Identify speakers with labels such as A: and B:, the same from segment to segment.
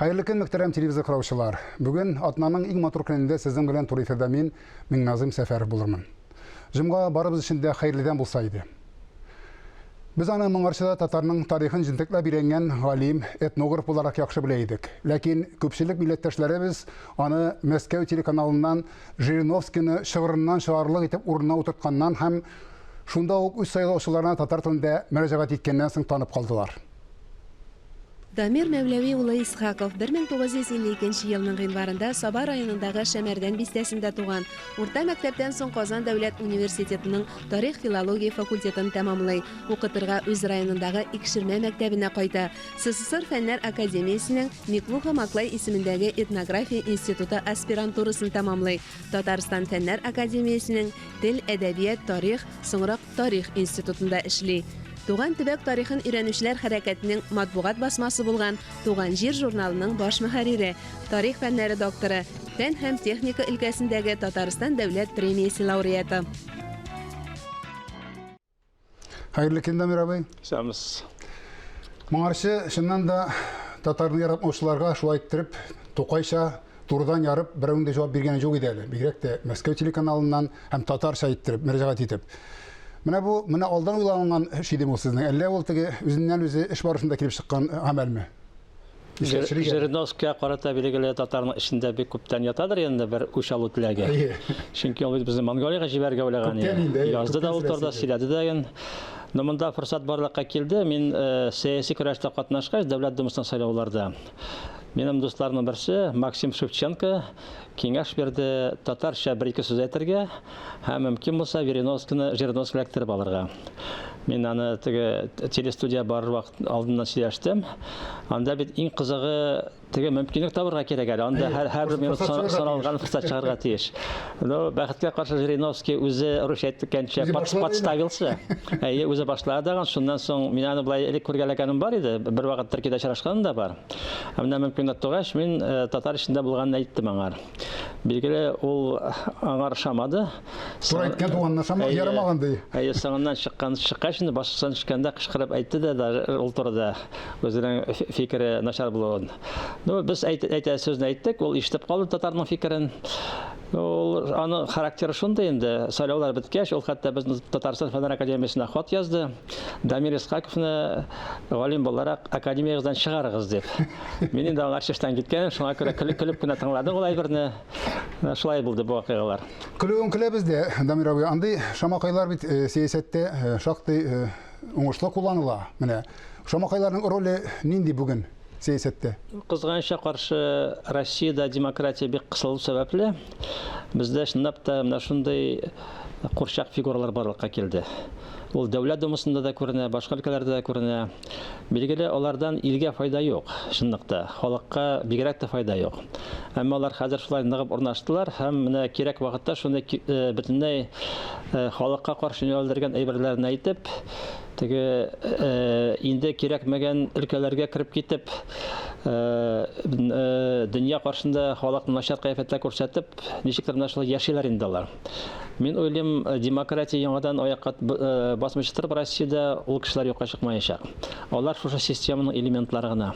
A: Хәерле көн, мөхтәрәм телевизор караучылар. Бүген атнаның иң матур көнендә сезнең белән туры эфирдә мин, Миңназыйм Сәфәров булырмын. Җомга барыбыз өчен дә хәерледән булса иде. Без аны моңарчыда татарның тарихын җентекләп өйрәнгән галим, этнограф буларак яхшы белә идек. Ләкин күпчелек милләттәшләребез аны Мәскәү телеканалыннан Жириновскийны чыгырыннан чыгарлык итеп урынына утыртканнан һәм шунда ук үз сайлаучыларына татар телендә мөрәҗәгать иткәннән соң танып калдылар.
B: Дамир Мәүләви улы Исхаков 1952 нче елның гыйнварында Саба районындагы Шәмәрдән бистәсендә туган. Урта мәктәптән соң Казан дәүләт университетының тарих-филология факультетын тәмамлый. Укытырга үз районындагы Икшермә мәктәбенә кайта. СССР Фәннәр академиясенең Миклуха-Маклай исемендәге этнография институты аспирантурасын тәмамлый. Татарстан Фәннәр академиясенең тел, әдәбият, тарих, соңрак, тарих институтында эшли. Туган төбәк тарихын өйрәнүчеләр хәрәкәтенең матбугат басмасы булган Туган җир журналының баш мөхәррире, тарих фәннәре докторы, фән һәм техника өлкәсендәге Татарстан дәүләт премиясе лауреаты.
A: Хәерле көн, Дамир абый. Сәмс. Моңарчы, чыннан да, татарны яратмаучыларга шулай иттереп, тукайча турыдан ярып берәүнең дә җавап биргәне юк иде әле, бигрәк тә Мәскәү телеканалыннан һәм татарча иттереп, мөрәҗәгать итеп. Менә бу, менә алдан уйланган эш идеме ул сезнең, әллә ул теге үзеннән-үзе эш барышында килеп чыккан гамәлме? Нишләп Жириновскийга
C: карата билгеле татарның эчендә бик күптән ятадыр инде бер үч алу теләге. Чөнки ул бит безне Монголиягә җибәрергә уйлаган иде. Язды да ул турыда, сөйләде дә. Но монда форсат барлыкка килде. Мин сәяси көрәштә катнашкач, Дәүләт Думасына сайлауларда, Минем дусларның берсе Максим Шевченко киңәш бирде татарча бер ике сүз әйтергә һәм мөмкин булса Вериновскины Жириновский эләктереп алырга. Мин аны теге телестудия бар вакыт алдыннан сөйләштем. Анда бит иң кызыгы теге мөмкинлек табырга кирәк әле. Анда һәр һәр бер минут саналган форсат чыгарга тиеш. Ну, бәхеткә каршы Жириновский үзе русча әйткәнчә подставился. Әйе, үзе башлады тагын. Шуннан соң мин аны былай элек күргәләгәнем бар иде. Бер вакыт Төркиядә очрашканым да бар. Ә менә мөмкинлек тугач, мин э, татар эчендә булганын әйттем аңа. Билгеле, ул аңа ошамады. Тура әйткән
A: туганына ошамады, ярамаган ди. Әйе, соңыннан чыккан
C: чыккач инде башыннан төшкәндә кычкырып әйтте дә, ул турыда үзенең фикере начар булуын. Ну, без әйтә, әйтә сүзне әйттек, ул ишетеп калды татарның фикерен. Ул аны характеры шундый инде. Сайлаулар беткәч, ул хәтта безнең Татарстан фәннәр академиясенә хат язды. Дамир Искаковны галим буларак академиягездән чыгарыгыз дип. Мин инде аңа чиштән киткәнем, шуңа күрә көлеп, көлеп кенә тыңладым ул әйберне. Шулай булды бу вакыйгалар. Көлүен көләбез дә,
A: Дамир абый, андый шамакайлар бит э, сәясәттә э, шактый э, уңышлы кулланыла. Менә шамакайларның роле нинди бүген? сәясәттә. Кызганычка
C: каршы, Россиядә демократия бик кысылу сәбәпле, бездә чынлап та менә шундый курчак фигуралар барлыкка килде. Ул Дәүләт Думасында да күренә, башка өлкәләрдә дә күренә. Билгеле, алардан илгә файда юк, чынлыкта, халыкка бигрәк тә файда юк. Әмма алар хәзер шулай ныгып урнаштылар һәм менә кирәк вакытта шундый бөтенләй халыкка каршы юнәлдергән әйберләрен әйтеп, Теге инде кирәкмәгән өлкәләргә кереп китеп, дөнья каршында халыкны начар кыяфәттә күрсәтеп, ничектер менә шулай яшиләр инде алар. Мин уйлыйм, демократия яңадан аякка басмыйча торып, Россиядә ул кешеләр юкка чыкмаячак. Алар шушы системаның элементлары гына.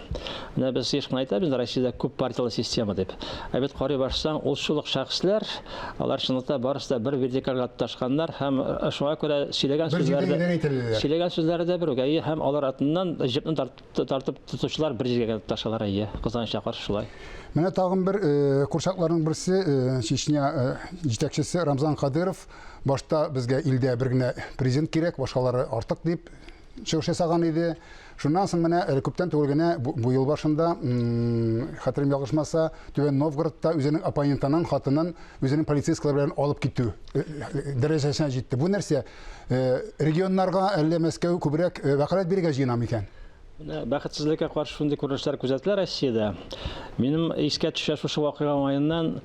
C: Менә без еш кына әйтәбез инде, Россиядә күп партияле система дип. Ә бит карый барсаң, ул шул ук шәхесләр, Алар чынлыкта барысы да бер вертикальгә тоташканнар һәм э, шуңа күрә сөйләгән Бер сүзләре җирдән генә әйтеләләр. сөйләгән сүзләре дә бер үк. Әйе, һәм алар артыннан җепне тартып, тартып тотучылар бер җиргә генә тоташалар, әйе. Кызганычка каршы шулай. Менә тагын бер
A: э, курчакларның берсе э, Чечня э, җитәкчесе Рамзан Кадыров башта безгә илдә бер генә президент кирәк, башкалары артык дип чыгыш ясаган иде. Шуннан соң менә әле күптән түгел генә бу ел башында, хәтерем ялгышмаса, Түбән Новгородта үзенең оппонентының хатынын үзенең полицейскалар белән алып китү э, э, дәрәҗәсенә җитте. Бу нәрсә? Э, регионнарга әллә Мәскәү күбрәк вәкаләт бирергә җыена микән? Бәхетсезлеккә
C: каршы шундый күренешләр күзәтелә Россиядә. Минем искә төшә шушы вакыйга уңаеннан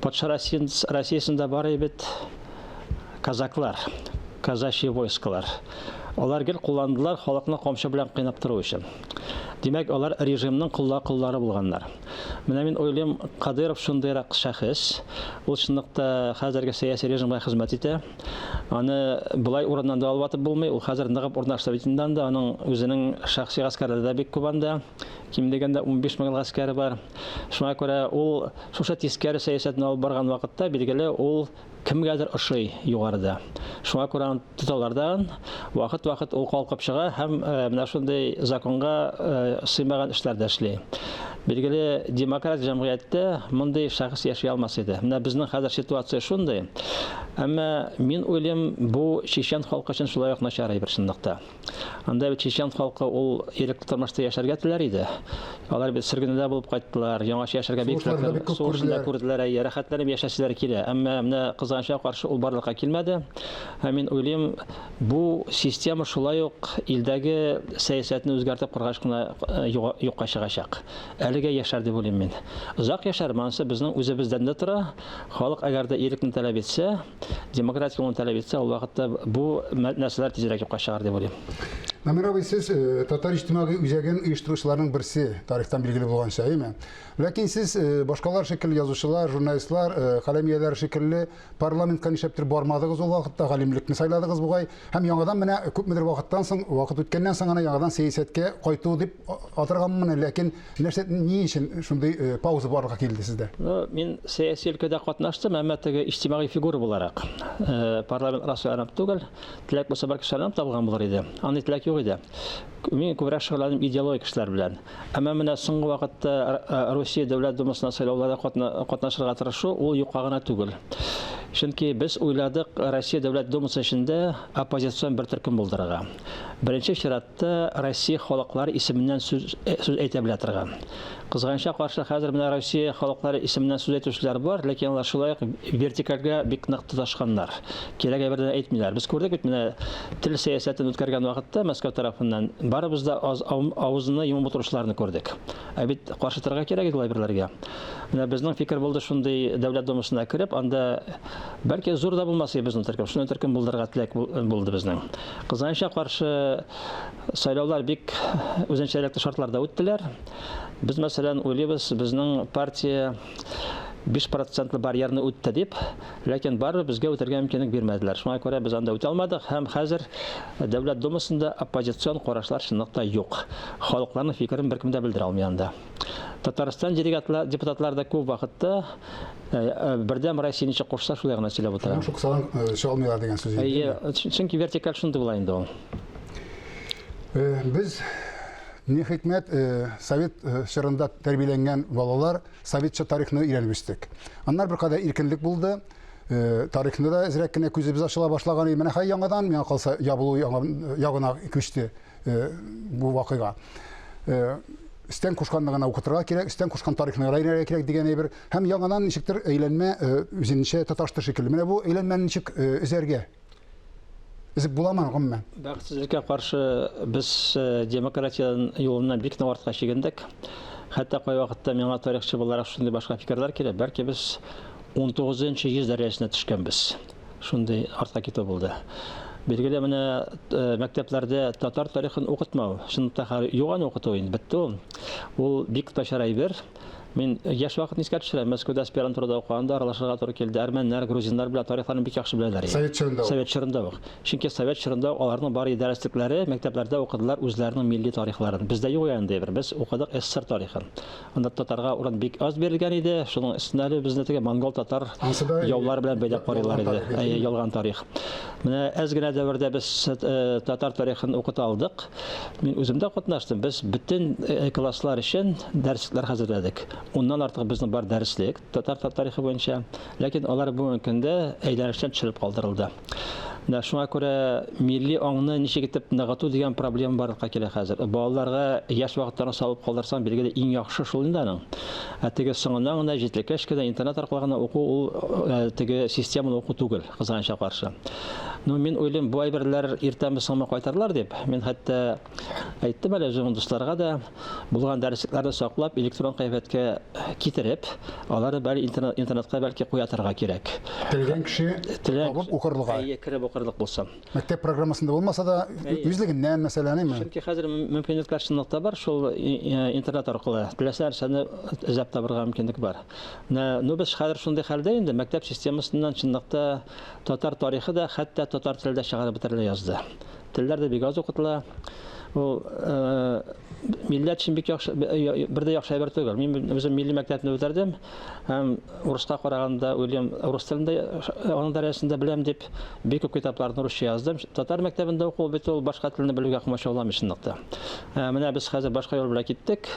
C: патша Россиясендә бар бит Казаклар, казачье войсколар. Алар гел кулланылдылар халыкны камчы белән кыйнап тору өчен. Димәк, алар режимның колла-коллары булганнар. Менә мин уйлыйм, Кадыйров шундыйрак шәхес. Ул чынлыкта хәзерге сәяси режимга хезмәт итә. Аны болай урыннан да алып атып булмый. Ул хәзер ныгып урнашты бит инде анда. Аның үзенең шәхси гаскәрләре дә бик күп анда. Ким дигәндә унбиш мең гаскәре бар. Шуңа күрә ул шушы тискәре сәясәтне алып барган вакытта, билгеле, ул Кемгәдер ошый югарыда. Шуңа күрә аны тоталар да, вакыт-вакыт ул калкып чыга һәм менә шундый законга сыймаган эшләр дә эшли. Билгеле, демократик җәмгыятьтә мондый шәхес яши алмас иде. Менә безнең хәзер ситуация шундый. Әмма мин уйлыйм, бу чечен халкы өчен шулай ук начар әйбер чынлыкта. Анда бит чечен халкы ул ирекле тормышта яшәргә теләр иде. Алар бит сөргендә булып кайттылар, яңача яшәргә бик теләкләр, сугышында күрделәр, әйе, рәхәтләнеп яшәсәләр килә. Әмма менә кызганычка каршы ул барлыкка килмәде. Һәм мин уйлыйм, бу система шулай ук илдәге сәясәтне үзгәртеп кургач кына э, юкка чыгачак. Әлегә яшәр дип уйлыйм мин. Озак яшәр, монысы безнең үзебездән дә тора. Халык әгәр дә ирекне таләп итсә, Демократик улын таләп итсә, ул вакытта бу нәрсәләр тизрәк юкка чыгар дип уйлыйм. Намир абый, сез
A: э, татар иҗтимагый үзәген оештыручыларның берсе, тарихтан билгеле булганча, әйме? Ләкин сез э, башкалар шикелле язучылар, журналистлар, э, каләм ияләре шикелле парламентка нишләптер бармадыгыз ул вакытта, галимлекне сайладыгыз бугай, һәм яңадан менә күпмедер вакыттан соң, вакыт үткәннән соң гына яңадан сәясәткә кайту дип атырганмын, ләкин Нәрсә, ни өчен шундый э, пауза барырга килде сездә? Ну, мин сәяси
C: өлкәдә катнаштым, әмма теге иҗтимагый фигура буларак. Э, парламент расыйланып түгел, теләк булса бәлки шаянып табылган булыр иде. Андый теләк юк иде. Мин күбрәк шөгыльләнәм идеологик эшләр белән. Әмма менә соңгы вакытта э, Россия Дәүләт Думасына сайлауларда катнашырга тырышу ул юкка гына түгел. Чөнки без уйладык Россия Дәүләт Думасы эчендә оппозицион бер төркем булдырырга. Беренче чиратта Хәтта Россия халыклары исеменнән сүз сүз әйтә белә торган. Кызганычка каршы, хәзер менә Россия халыклары исеменнән сүз әйтүчеләр бар, ләкин алар шулай ук вертикальгә бик нык тоташканнар. Кирәге бердән әйтмиләр. Без күрдек бит менә тел сәясәтен үткәргән вакытта Мәскәү тарафыннан барыбыз да аз авызны йомып утыручыларны күрдек. Ә бит каршы торырга кирәк иде лайберләргә. Менә безнең фикер булды шундый дәүләт домасына кереп, анда бәлки зур да булмас иде безнең төркем. Шундый төркем булдырырга теләк булды безнең. Кызганычка каршы, сайлаулар бик үзенчәлекле шартларда үттеләр. Без, мәсәлән, уйлыйбыз, безнең партия 5 процентлы барьерны үтте дип, ләкин барыбер безгә үтәргә мөмкинлек бирмәделәр. Шуңа күрә без анда үтә алмадык һәм хәзер Дәүләт Думасында оппозицион карашлар чынлыкта юк. Халыкларның фикерен беркем дә белдерә алмый анда. Татарстан делегатлар, депутатлар да күп вакытта э, э, бердәм Россия ничек кушса, шулай гына сөйләп утыра. Шук салам э, чалмыйлар
A: дигән сүз. Әйе, чөнки вертикаль
C: шундый була инде ул. Без
A: ни хикмәт совет чорында тәрбияләнгән балалар советча тарихны өйрәнеп үстек. Аннар беркадәр иркенлек булды. Тарихны да әзрәк кенә күзебез ачыла башлаган. Менә хәй яңадан миңа калса ябылу ягына күчте. Э, бу вакыйга э, истән кушканны гына укытырга кирәк истән кушкан тарихны гына өйрәнергә кирәк дигән әйбер һәм яңадан ничектер әйләнмә э, үзенчә таташты шикелле менә бу әйләнмәне ничек өзәргә Эзеп буламы гомумән? Бәхетсезлеккә каршы
C: без демократия юлыннан бик нык артка чигендек. Хәтта кай вакытта миңа тарихчы буларак шундый башка фикерләр килә, бәлки без 19 нчы йөз дәрәҗәсенә төшкәнбез. Шундый артка китү булды. Билгеле менә мәктәпләрдә татар тарихын укытмау, чынлап та хәзер юган укыту инде бетте ул. Ул бик начар әйбер. Мин яшь вакытны искә төшерәм. Мәскәүдә аспирантурада укыганда аралашырга туры килде. Әрмәннәр, грузиннар белән тарихларын бик яхшы беләләр. Совет чорында. Совет чорында ук. Чөнки совет чорында аларның бар идарәчлекләре мәктәпләрдә укыдылар үзләренең милли тарихларын. Бездә юк янде бер. Без укыдык СССР тарихын. Анда татарга урын бик аз бирелгән иде. Шуның өстенә әле безне теге монгол-татар яулар белән бәйләп карыйлар иде. Әйе, ялган тарих. Менә әз генә дәвердә без э, татар тарихын укыта алдык. Мин үзем дә катнаштым. Без бөтен э, класслар өчен дәресләр хәзерләдек. Уннан артык безнең бар дәреслек. татар тарихы буенча, ләкин алар бүгенге көндә әйләнештән төшереп калдырылды. Менә шуңа күрә милли аңны ничек итеп ныгыту дигән проблема барлыкка килә хәзер. Балаларга яшь вакыттан салып калдырсаң, билгеле иң яхшы шул инде аның. Ә теге соңыннан гына җитлеккәч кенә интернет аркылы гына уку ул э, теге системалы уку түгел, кызганычка каршы. Ну, мин уйлыйм, бу әйберләр иртәме соңмы кайтарлар дип. Мин хәтта Әйттем әле үзем дусларга да булган дәреслекләрне саклап электрон кыяфәткә китереп, алары бәлки интернет, интернетка бәлки куя торырга кирәк. Телгән кеше
A: Теләк- табып укырлык. Әйе, кереп укырлык булса.
C: Мәктәп программасында
A: булмаса да, Әйе. үзлегеннән мәсәлән, әйме? Чөнки хәзер мөм-
C: мөмкинлекләр чынлап та бар, шул и- э, интернет аркылы теләсә нәрсәне эзләп табырга мөмкинлек бар. Менә, ну без хәзер шундый хәлдә инде, мәктәп системасыннан чынлап та татар тарихы да, хәтта татар теле дә чыгарып бетерелә язды. Телләр дә бик аз укытыла. Ул милләт өчен бик яхшы бер дә яхшы әйбер түгел. Мин үзем милли мәктәпне үтәрдем һәм урыска караганда Уильям рус телендә аның дәрәҗәсендә беләм дип бик күп китапларны русча яздым. Татар мәктәбендә уку бит ул башка телне белүгә комачауламый чынлыкта. Ә, менә без хәзер башка юл белән киттек.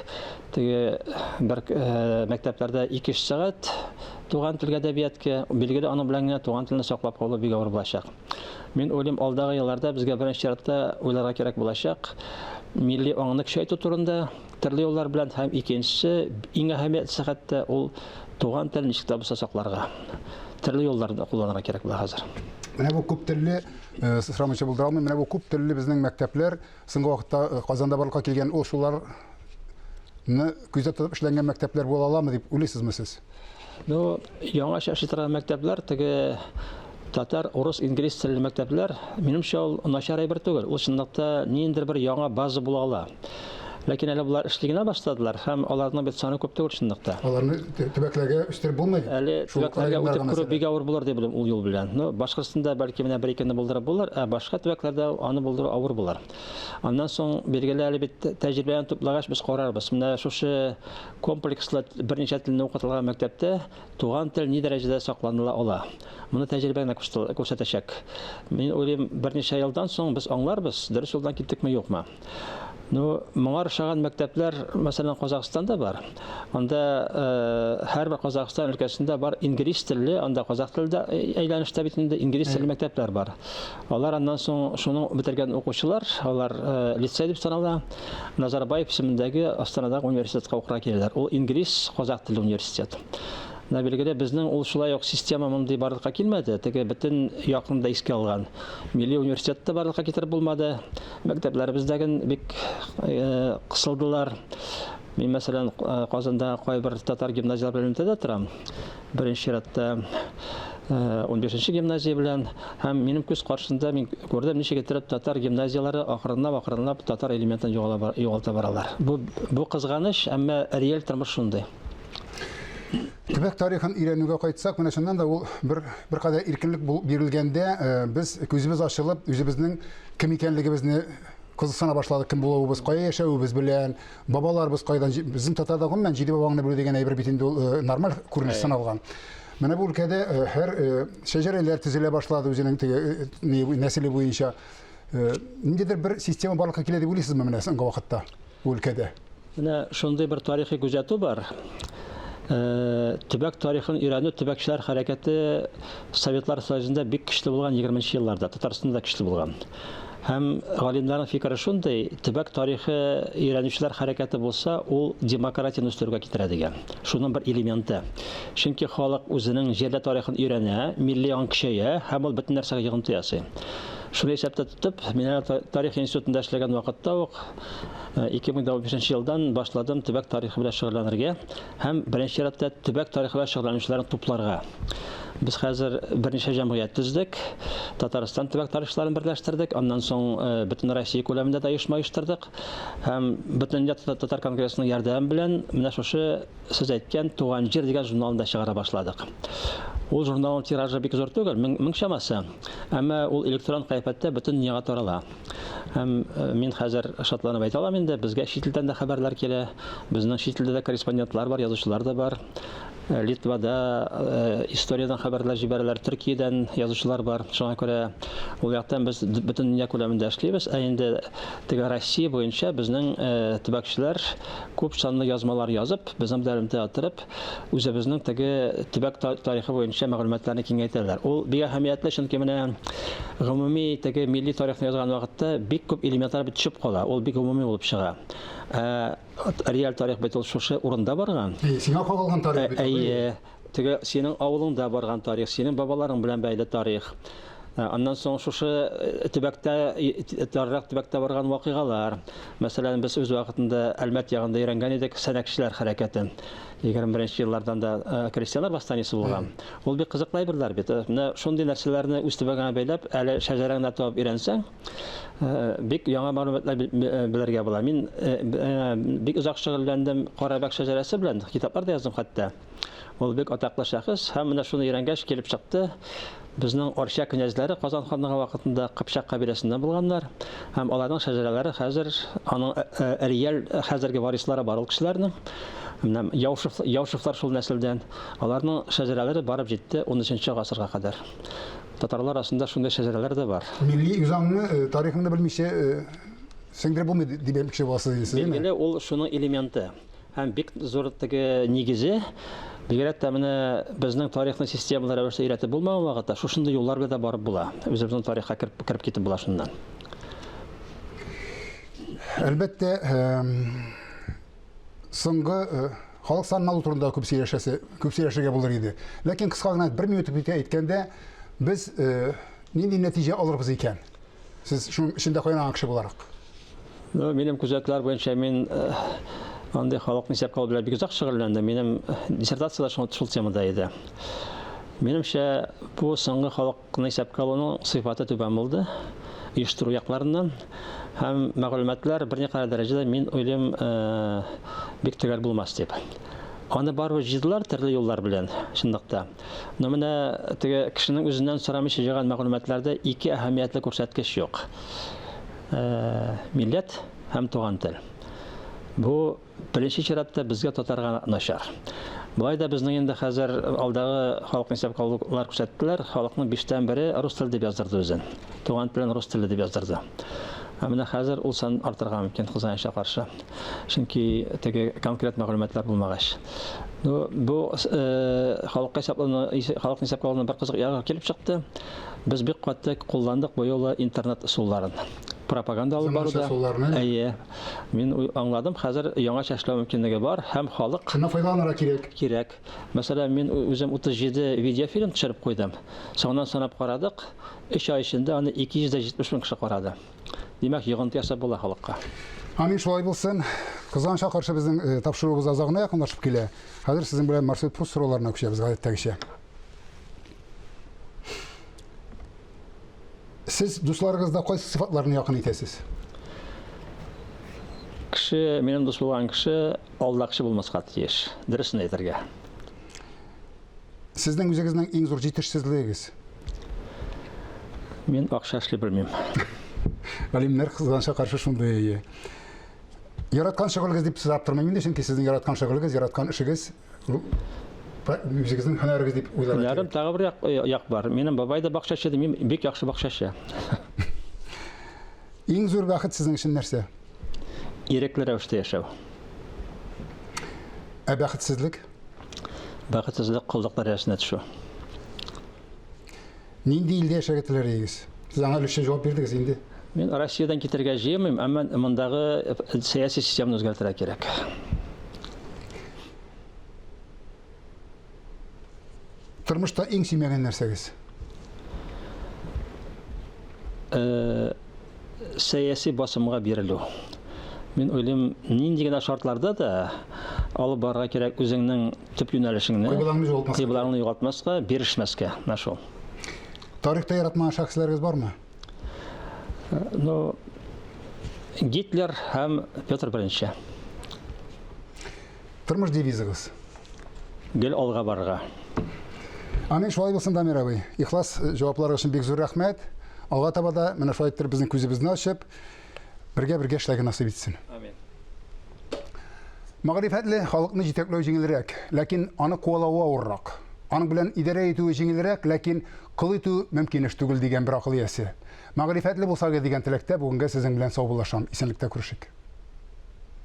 C: Теге бер э, мәктәпләрдә 2 сәгать туган телгә әдәбиятка, билгеле аның белән генә туган телне саклап калу бик авыр булачак. Мин уйлыйм, алдагы елларда безгә беренче чиратта уйларга кирәк булачак милли аңны көчәйтү турында төрле юллар белән һәм икенчесе иң әһәмиятлесе хәтта ул туган тел ничек тә булса сакларга төрле юлларны кулланырга кирәк була хәзер. Менә бу күп
A: телле э, сырамыйча булдыра алмыйм. Менә бу күп телле безнең мәктәпләр Соңгы вакытта э, Казанда барлыкка килгән ул шуларны күздә тотып эшләнгән мәктәпләр була аламы дип уйлыйсызмы сез? Ну,
C: яңа шәхси торган мәктәпләр теге татар, урыс, инглиз телле мәктәпләр, минемчә ул начар әйбер түгел. Ул чынлыкта ниндидер бер яңа база була ала. Ләкин әле болар эшли генә башладылар һәм аларның бит саны күп түгел чынлыкта. Аларны төбәкләргә
A: үстереп булмый. Әле төбәкләргә үтеп
C: керү бик авыр булыр дип беләм ул юл белән. Ну, Башкортстанда бәлки менә бер икене булдырып булыр, ә башка төбәкләрдә аны булдыру авыр булыр. Аннан соң билгеле әле бит тәҗрибәне туплагач без карарбыз. Менә шушы комплекслы берничә телне укытылган мәктәптә туган тел ни дәрәҗәдә сакланыла ала. Моны тәҗрибә генә күрсәтәчәк. Мин уйлыйм, берничә елдан соң без аңларбыз, дөрес юлдан киттекме, юкмы. Ну, моңар шаган мәктәпләр, мәсәлән, Казахстанда бар. Анда э, һәр бер Казахстан өлкәсендә бар инглиз телле, анда казах телендә әйләнештә бит инде инглиз телле мәктәпләр бар. Алар аннан соң шуның бетергән укучылар, алар э, лицей дип санала, Назарбаев исемендәге Астанадагы университетка укырга киләләр. Ул инглиз, казах телле университет. Менә билгеле, безнең ул шулай ук система мондый барлыкка килмәде. Теге бөтен якында искә алган. Милли университетта барлыкка китереп булмады. Мәктәпләребездәген бик кысылдылар. Мин, мәсәлән, Казанда кайбер татар гимназияләре белән элемтәдә торам. Беренче чиратта 15-нче гимназия белән һәм минем күз каршында мин күрдем, ничек итеп татар гимназияләре акрынлап-акрынлап татар элементын югалта баралар. Бу бу кызганыч, әмма реаль тормыш шундый.
A: Төбәк тарихын өйрәнүгә кайтсак, менә шуннан да ул бер бер кадәр иркенлек бирелгәндә э, без күзебез ачылып, үзебезнең кем икәнлегебезне кызыксына башладык, кем булуыбыз, кая яшәвебез белән, бабаларыбыз кайдан, безнең татарда гомумән җиде бабаңны белү дигән әйбер бит инде ул э, нормаль күренеш саналган. Менә бу өлкәдә э, һәр шәҗәрәләр төзелә башлады үзенең теге нәселе буенча. Ниндидер бер система барлыкка килә дип уйлыйсызмы менә соңгы вакытта? өлкәдә. Менә шундый
C: бер тарихи күзәтү бар. Төбәк тарихын өйрәнү төбәкчеләр хәрәкәте Советлар Союзында бик көчле булган 20 нче елларда, Татарстанда да көчле булган. Һәм галимнәрнең фикере шундый, төбәк тарихы өйрәнүчеләр хәрәкәте булса, ул демократияне үстерүгә китерә дигән. Шуның бер элементы. Чөнки халык үзенең җирле тарихын өйрәнә, милли аң көчәя һәм ул бөтен нәрсәгә йогынты ясый. Шуны исәптә тотып, мин әле тарих институтында эшләгән вакытта ук 2005 э, елдан башладым төбәк тарихы белән шөгыльләнергә һәм беренче чиратта төбәк тарихы белән шөгыльләнүчеләрне тупларга. Без хәзер берничә җәмгыять төздек. Татарстан төбәк тарихчыларын берләштердек, аннан соң э, бөтен Россия күләмендә дә оешма оештырдык. Һәм бөтен татар конгрессының ярдәме белән менә шушы сез әйткән Туган җир дигән журналны да чыгара башладык. Ул журналның тиражы бик зур түгел, 1000 чамасы. Әмма ул электрон кыяфәттә бөтен дөньяга тарала. Һәм мин хәзер шатланып әйтә алам инде, безгә чит илдән дә хәбәрләр килә. Безнең чит илдә дә корреспондентлар бар, язучылар да бар. Литвада историядән хәбәрләр җибәрәләр, Төркиядән язучылар бар. Шуңа күрә ул яктан без бөтен дөнья күләмендә эшлибез. Ә инде теге Россия буенча безнең төбәкчеләр күп санлы язмалар язып, безнең белән элемтәдә торып, үзебезнең теге төбәк тарихы буенча мәгълүматларны киңәйтәләр. Ул бик әһәмиятле, чөнки менә гомуми теге милли тарихны язган вакытта бик күп элементлар бит төшеп кала. Ул бик гомуми булып чыга. Ә реаль тарих бит ул шушы урында барган. Әйе, сиңа кагылган тарих
A: бит. Әйе. Теге синең
C: авылыңда барган тарих, синең бабаларың белән бәйле тарих. Аннан соң шушы төбәктә, таррак төбәктә барган вакыйгалар. Мәсәлән, без үз вакытында Әлмәт ягында өйрәнгән идек сәнәкчеләр хәрәкәтен. 21 еллардан да э, крестьяннар восстаниесе булган. Ул бик кызыклы әйберләр бит. Э, менә шундый нәрсәләрне үз төбәгеңә бәйләп, әле шәҗәрәңне табып өйрәнсәң, э, бик яңа мәгълүматлар белергә була. Мин бик озак шөгыльләндем Карабәк шәҗәрәсе белән, китаплар да яздым хәтта. Ул бик атаклы шәхес, һәм менә шуны өйрәнгәч килеп чыкты. Безнең Арча князьләре Казан ханлыгы вакытында Кыпчак кабиләсеннән булганнар, һәм аларның шәҗәрәләре хәзер аның э, э, реаль э, хәзерге варислары бар ул кешеләрнең. Менә Яушев, Яушевлар шул нәселдән. Аларның шәҗәрәләре барып җитте 13 гасырга кадәр. Татарлар арасында шундый шәҗәрәләр дә бар. Милли үзаңны,
A: тарихыңны белмичә сеңдереп булмый дип әйтмекче буласыз инде. Билгеле, ул шуның
C: элементы. Һәм бик зур теге нигезе, бигрәк тә менә безнең тарихны системалы рәвештә өйрәтеп булмаган вакытта, шушындый юллар белән дә барып була. Үзебезнең тарихка кереп, кереп китеп була шуннан.
A: Әлбәттә, соңгы халык санын алу турында күп сөйләшәсе, күп сөйләшергә булыр иде. Ләкин кыска гына бер минут үтә әйткәндә, без нинди нәтиҗә алырбыз икән? Сез шуның эчендә кайнаган кеше буларак. Ну, минем
C: күзәтләр буенча мин э, андый халыкны исәпкә алу белән бик озак шөгыльләндем. Минем э, диссертация да шул, шул темада иде. Минемчә, бу соңгы халыкны исәпкә алуның сыйфаты түбән булды оештыру якларыннан һәм мәгълүматлар берникадәр дәрәҗәдә мин уйлыйм э, бик төгәл булмас дип. Аны барыбер җыйдылар төрле юллар белән, чынлыкта. Но менә теге кешенең үзеннән сорамыйча җыйган мәгълүматларда ике әһәмиятле күрсәткеч юк. Милләт һәм туган тел. Бу беренче чиратта безгә татарга начар. Болай да безнең инде хәзер алдагы халык исәп алулар күрсәттеләр, халыкның биштән бере рус теле дип яздырды үзен. Туган телен рус теле дип яздырды. Ә менә хәзер ул сан артырга мөмкин хозаянча каршы. Чөнки теге конкрет мәгълүматлар булмагач. Ну, бу халыкка исәпләнү, халык исәпкә алуның бер кызык ягы килеп чыкты. Без бик каты кулландык бу юлы интернет ысулларын. Пропаганда алып баруда. Әйе. Мин аңладым, хәзер яңача эшләү мөмкинлеге бар һәм халык Шуннан файдаланырга кирәк.
A: Кирәк. Мәсәлән, мин
C: үзем 37 видеофильм төшереп куйдым. Соңыннан санап карадык, 3 ай эчендә аны 270 мең кеше карады. Димәк, йогынты ясап була халыкка. Амин шулай
A: булсын. Кызганычка каршы безнең э, тапшыруыбыз азагына якынлашып килә. Хәзер сезнең белән маршрут пуст сорауларына күчәбез гадәттәгечә. Сез дусларыгызда кайсы сыйфатларны якын итәсез?
C: Кеше, минем дус булган кеше алдакчы булмаска тиеш. Дөресен әйтергә.
A: Сезнең үзегезнең иң зур җитешсезлегегез?
C: Мин акча эшли белмим.
A: Галимнәр кызганша каршы шундый әйе. Яраткан шөгылегез дип сызап тормыйм инде, чөнки сезнең яраткан шөгылегез, яраткан эшегез үзегезнең һөнәрегез дип уйларга кирәк. Һөнәрем тагы бер як,
C: як бар. Минем бабай да бакчачы, мин бик яхшы бакчачы.
A: Иң зур бәхет сезнең өчен нәрсә? Ирекле
C: рәвештә яшәү.
A: Ә бәхетсезлек?
C: Бәхетсезлек коллык дәрәҗәсенә төшү.
A: Нинди илдә яшәргә теләр идегез? Сез аңа өлешчә җавап бирдегез инде. Мин Россиядән
C: китәргә җыемыйм, әмма мондагы сәяси системаны үзгәртергә кирәк.
A: Тормышта иң сөймәгән нәрсәгез? Э,
C: сәяси басымга бирелү. Мин уйлыйм, нинди генә шартларда да алып барырга кирәк үзеңнең төп юнәлешеңне. Кыйблаңны югалтмаска. Кыйблаңны югалтмаска, бирешмәскә. Менә шул. Тарихта
A: яратмаган шәхесләрегез бармы? Э, ну,
C: Гитлер һәм Петр Беренче.
A: Тормыш девизыгыз? Гел
C: алга барырга.
A: Амин, шулай булсын, Дамир абый. Ихлас э, җавапларыгыз өчен бик зур рәхмәт. Алга таба да менә шулай иттереп безнең күзебезне ачып, бергә-бергә эшләргә насыйп итсен.
C: Амин.
A: Мәгърифәтле халыкны җитәкләү җиңелрәк, ләкин аны куалавы авыррак. Аның белән идарә итүе җиңелрәк, ләкин кол итү мөмкин эш түгел дигән бер акыл иясе. Мәгърифәтле булсагыз дигән теләктә бүгенгә сезнең белән саубуллашам. Исәнлектә күрешик.